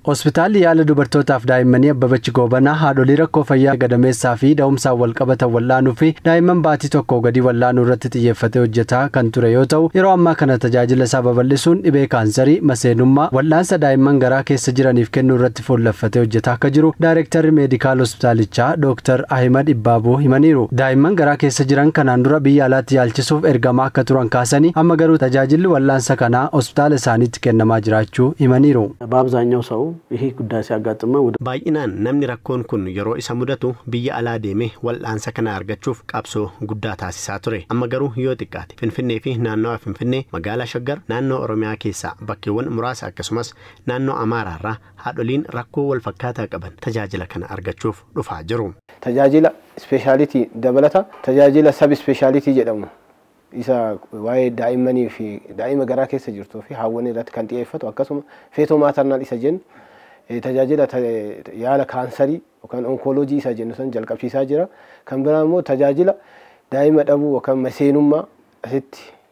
Hospitaalli yaala dubartootaaf daa'immanii Abbabach Goobanaa haadholii rakkoo fayyaa gadameessaa fi da'umsaan walqabatan wal'aanuu fi daa'imman baatii tokkoo gadii wal'aanuu irratti xiyyeeffatee hojjetaa kan ture yoo ta'u, yeroo ammaa kana tajaajila isaa babal'isuun dhibee kaansarii, maseenummaa, wal'aansa daa'imman garaa keessa jiraniif kennuu irratti irratti fuulleffatee hojjetaa akka jiru Daayrektarri Meedikaal Hospitaalichaa Dooktar Ahimad Ibbaabuu himaniiru. Daa'imman garaa keessa jiran kanaan dura biyya alaatti yaalchisuuf ergamaa akka turan kaasanii, amma garuu tajaajilli wal'aansa kanaa hospitaala isaaniitti kennamaa jiraachuu himaniiru. B'aabzaanyaw saw ihi guddaa siyaaggaxxmma wda. Baay'inaan namni rakkoon kun yeroo isa mudatu biyya alaa deemee wal'aansa kana argachuuf qabsoo guddaa taasisaa ture. Amma garuu yoo xiqqaate Finfinneefi naannawaa Finfinnee, Magaalaa Shaggar, Naannoo Oromiyaa keessaa bakkeewwan muraasa akkasumas Naannoo Amaaraarraa haadholiin rakkoo walfakkaataa qaban tajaajila kana argachuuf dhufaa jiru. Tajaajila ispeeshaalitii dabalata tajaajila sab ispeeshaalitii jedhamu isa waa'ee daa'immanii fi daa'ima garaa keessa jirtuu fi haawwanii irratti kan xiyeeffatu akkasuma feetoo maatarnaal isa jennu tajaajila yaala kaansarii yookaan onkooloojii isa jennu san jalqabsiisaa jira. Kan biraa immoo tajaajila daa'ima dhabuu yookaan maseenummaa asitti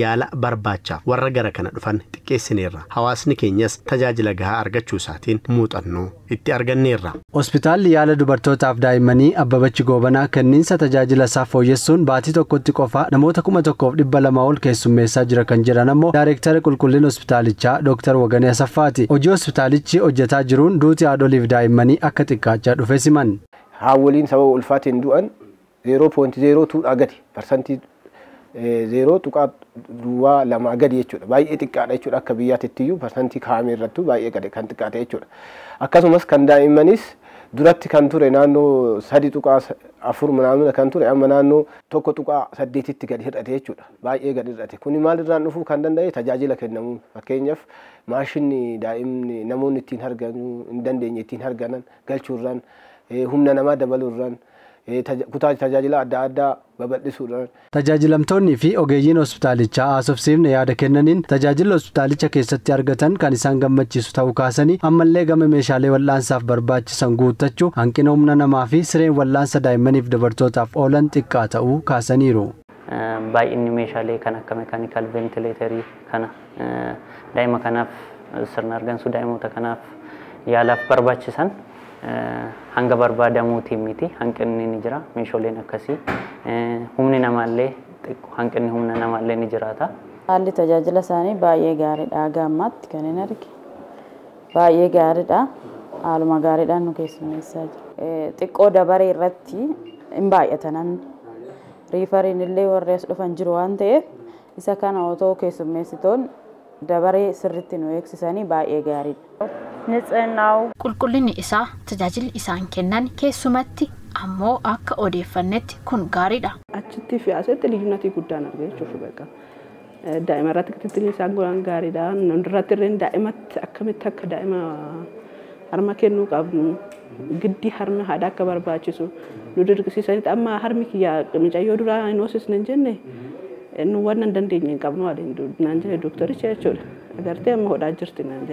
yaala barbaachaaf warra gara kana dhufan xiqqeessineerra. Hawaasni keenyas tajaajila gahaa argachuu isaatiin muuxannoo itti arganneerra. Hospitaalli Yaala Dubartootaaf Daa'immanii Abbabachi Goobanaa kenniinsa tajaajila isaa fooyyessuun baatii tokkotti qofa namoota 1,200 ol keessummeessaa jira kan jedhan ammoo Daarektara Qulqullina Hospitaalichaa Dooktar Waganee Asaffaati. Hojii hospitaalichi hojjetaa jiruun duuti haadholiif daa'immanii akka xiqqaachaa dhufes himan. Haawwoliin sababa ulfaatiin du'an 0.02 dhaa gadi, parsantii 0.2 gadi jechuudha. Baay'ee xiqqaadha jechuudha akka biyyaatittiyyuu parsantii kaa'ame irrattuu baay'ee gadi kan xiqqaate jechuudha. Akkasumas kan daa'immaniis duratti kan ture naannoo 3.4 manaamina kan ture amma naannoo 1.8tti gadi hir'ate jechuudha. Baay'ee gadi hir'ate. Kuni maalirraan dhufuu kan danda'e tajaajila kennamuun fakkeenyaaf maashinni daa'imni namoonni ittiin harganuu hin dandeenye ittiin harganan galchuurraan humna namaa dabaluurraan kutaa tajaajilaa adda addaa babal'isuudhaan. Tajaajilamtoonnii fi ogeeyyiin hospitaalichaa haasofsiifne yaada kennaniin, tajaajilli hospitaalicha keessatti argatan kan isaan gammachiisu ta'uu kaasanii, ammallee gama meeshaalee wal'aansaaf barbaachisan guuttachuu, hanqina humna namaa fi sireen wal'aansa daa'immaniif dubartootaaf oolan xiqqaa ta'uu kaasaniiru. Baay'inni meeshaalee kan akka mekaanikaal veentileetarii kana daa'ima kanaaf sirna argansuu daa'imoota kanaaf yaalaaf barbaachisan hanga barbaadamuutiin miti hanqinni ni jira meeshooleen akkasii humni namaallee xiqqo hanqinni humna namaallee ni jiraata. Haalli tajaajila isaanii baay'ee gaariidha haga ammaatti kan hin arge baay'ee gaariidha haaluma gaariidhaan nu keessummeessaa jiru. Xiqqoo dabaree irratti hin baay'ata namni. Riifariin illee warri as dhufan jiru waan ta'eef isa kana otoo keessummeessitoon dabaree sirritti nu eegsisanii baay'ee gaariidha. Nits'innaa'u. Qulqullinni isaa, tajaajilli isaan kennan keessumatti ammoo akka odeeffannetti kun gaariidha. Achittii fi asitti liyyunnatii guddaan arge jechuufi beqa. Daa'ima irratti kitittilli isaan godhan gaariidha. Irratti illee daa'imatti akkamitti akka daa'ima harma kennuu qabnu giddi harmi haadha akka barbaachisu nu dirqisiisanitti amma harmi kiyya micayyoo duraa hin hoosisne hin jenne nu waan hin dandeenye hin qabnu waliin naan jedhe doktaricha jechuudha. Agartee amma hodhaa jirti naan jedhe.